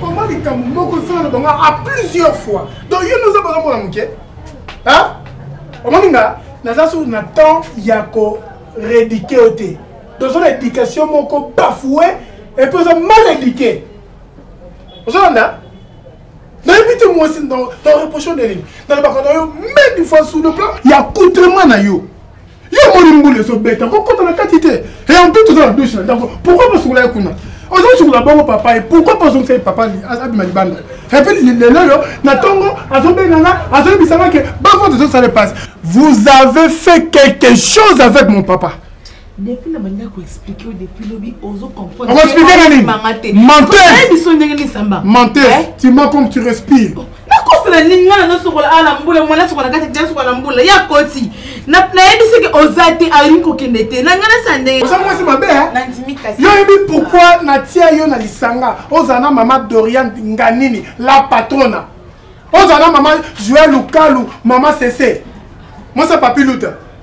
koma likambo moko esala na bango a plusieurs fois donc yo noza baza mwana moke omoni nga naza sur na temps ya ko rédike yo te toza na éducation moko bafoue epuis oza mal éduqué ozolanda nayebi te mwasi na reproche ndelingi nalobaka na yo meme fois sur le plan ya coutrement na yo yo omoni mbula ezobeta kokota na kati te eampe toza na dushe na ndako pourkoi basokola ye kuna ozosokola bongo papa ye pourkoi mpe ozongisa ye papa abima libanda epe lelo oyo na ntongo azobenga nga azoyebisa nga ke bavote ezosala epasi vous avez fait quelque chose avec mon papa depuis na banda koexplike yo depuis lobi ozo comprendreexplike nani menteur biso ndenge lisamba menteur tu m'as comme tu respires oh. nakosala nini nga nanosokola awa na mbula mwana sokola na kati te sokola na mbula ya koti nayebi soki oza te alingi kokende te na nga nasa ndenge oza mwasi mabe yo yebi pourkui natia yo na lisanga ozala na mama dorian nganini la patrona ozala na mama joel lukalu mama sese mwasi ya papi luta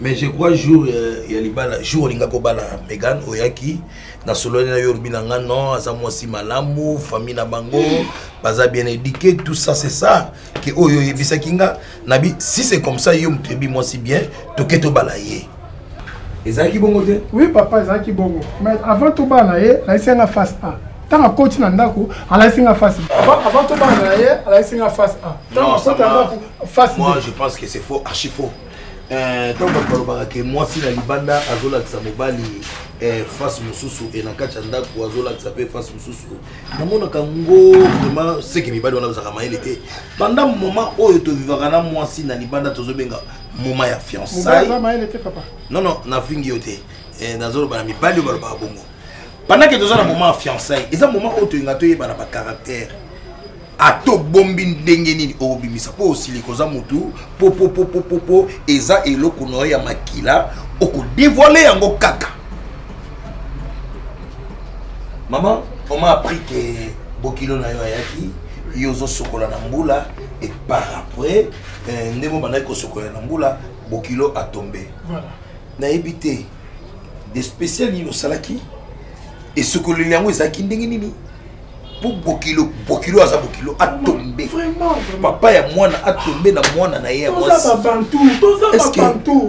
mais je crois jour euh, ya libala jour olinga kobala megan oyaki nasololi na yo olobi na nga non aza mwasi malamu famille na bango baza bien éduqué tout ça c'est ça ke oyo oyebisaki nga nabi si c'est comme ça yo moto yebi mwasi bien toke tobala ye ezalaki bongo te oui papa ezalaki bongo mais avant tobala na ye nayisi yanga face a ntango akoti na ndako alakisi nga face avant tobana na ye alakisi nga face a ntango akoti na ndako face moi je pense que c'est faux archi faux euh, ntango bato balobaka ke mwasi na libanda azolakisa mobali eh, face mosusu e na kati ya ndako azolakisa mpe face mosusu namonaka ngo vraimen seke mibali wana bazalaka mayele te banda moment oyo tovivaka na mwasi na libanda tozobenga moment ya fiançai non non nafingi yo te eh, nazoloba na mibali oyo balobaka bongo pendant que toza na moment ya fiançaille eza moment oyo tolinga toyeba na bacaractère ata obombi ndenge nini okobimisa mpo osili koza motu popopopopopo eza eloko na yo ya makila okodevoile yango kaka mama oma appris ke bokilo na yo ayaki yo ozosokola na mbula et par après eh, ndenge obandaki kosokola na mbula bokilo atombe voilà. nayebi te de spécial nini osalaki esokoleli yango ezalaki ndenge nini mpo bokilo bokilo aza bokilo atombe papa ya mwana atombe na mwana na ye ya mwasi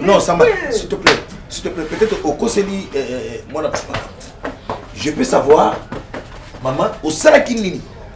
non samba s'il te plaît s'il te plaît peut-être okoseli euh, euh, mwana papa je peux savoir mama osalaki nini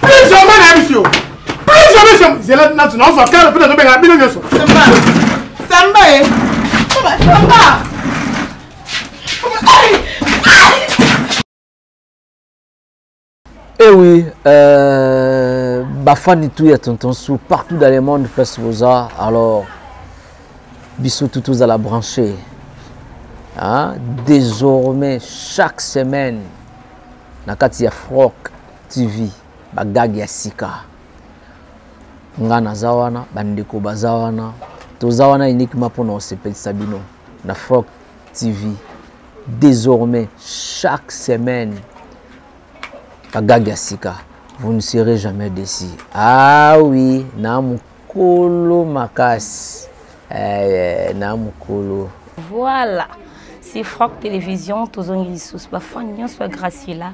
plus jamais nayebisi yo plus jamais zela natu nazwa kala mpe nazobengana bino nyonso samba ye samba Eh oui, euh, Bafani tout ya tonton sous partout dans le monde place boza. Alors bisous tout tous à la brancher. Hein? Désormais chaque semaine na kati ya froc TV ba gag ya sika. Nga naza wana, bandeko baza wana. Toza wana uniquement mpo na osepelisa bino na Frog TV. Désormais, chaque semaine, ba gag ya sika. Vous ne serez jamais déçu. Ah oui, na Kolo makasi eh, na mukolo. Voilà. C'est Franck Télévision, tozongi lisusu ba fan nyonso ya Graciela.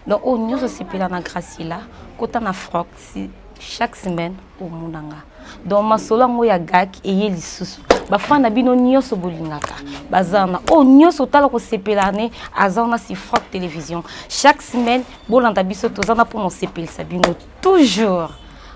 Donc oh nyonso sepela na Graciela, kota na Franck si chaque semaine au Munanga. Donc masolo yango ya gak eye lisusu. Ba fan na bino nyonso bolingaka. Bazana oh nyonso tala ko sepela ne azana si Franck Télévision. Chaque semaine bolanda biso tozana pour mo sepelisa bino toujours.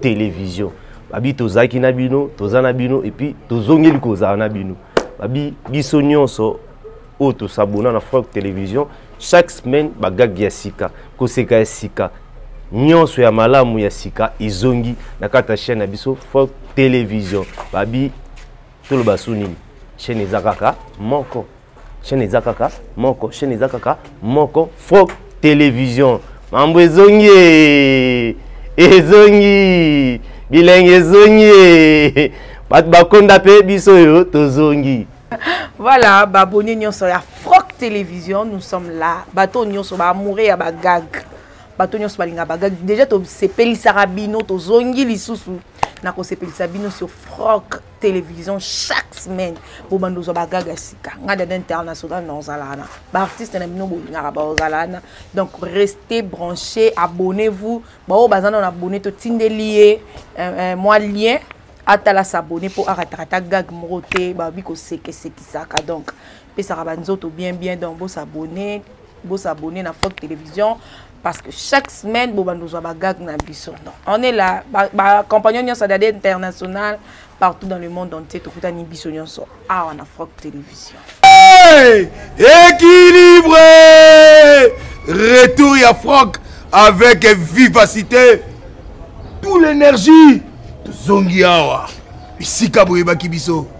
television babi tozalaki na bino toza na bino epuis tozongeli kozala na bino babi biso nyonso oyo tosabona na frank television chaque semaine bagage ya sika koseka ya sika nyonso ya malamu ya sika ezongi na kati ya chaîne na biso frank television babi toloba su nini chaîne eza kaka moko chaîne eza kaka moko chaîne eza kaka moko froc télévision mambo ezongi ezongi bilengi ezongi bato bakonda mpe biso oyo tozongi voilà baboni nyonso ya froc télévision nous sommes là bato nyonso baamoure ya bagag bato nyonso balinga bagag déjà tosepelisaka bino tozongi lisusu na kosepelisa bino sur froc télévision chaque semaine bobanda ozwa bagaga sika ngai dada international na ozala wana baartiste na bino bolingaka baozala wana donc restez branché abonnez vous baoyo baza nano abonne totindeli ye euh, euh, mwa lien atala s'abonne mpo arataka ata gag moko te babi kosekesekisaka donc pesaka ba nzoto bien bien donc bo s'abonner bo s'abonner na Fort Télévision parce que chaque semaine bo bando zwa ba gag na biso donc on est là ba, ba compagnon nyonso dade international partout dans le monde entier tokutani biso nyonso awa na Fort Télévision hey! équilibré retour ya Franck avec vivacité tout l'énergie tozongi awa bisika boyebaki biso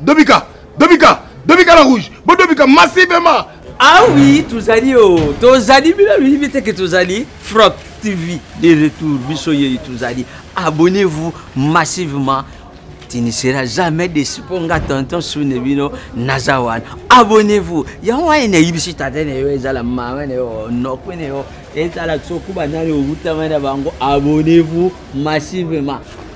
Dobika, Dobika, Dobika la rouge, Bo Dobika massivement. Ah oui, tozali oh, tozali bino bibi te que tozali Frog TV de retour biso ye tozali. Abonnez-vous massivement. Tu ne seras jamais déçu pour nga tonton sune bino nazawan. Abonnez-vous. Yango wana na yibisi tata na yo ezala mama na yo noko na yo ezala sokuba nani owutama na bango abonnez-vous massivement.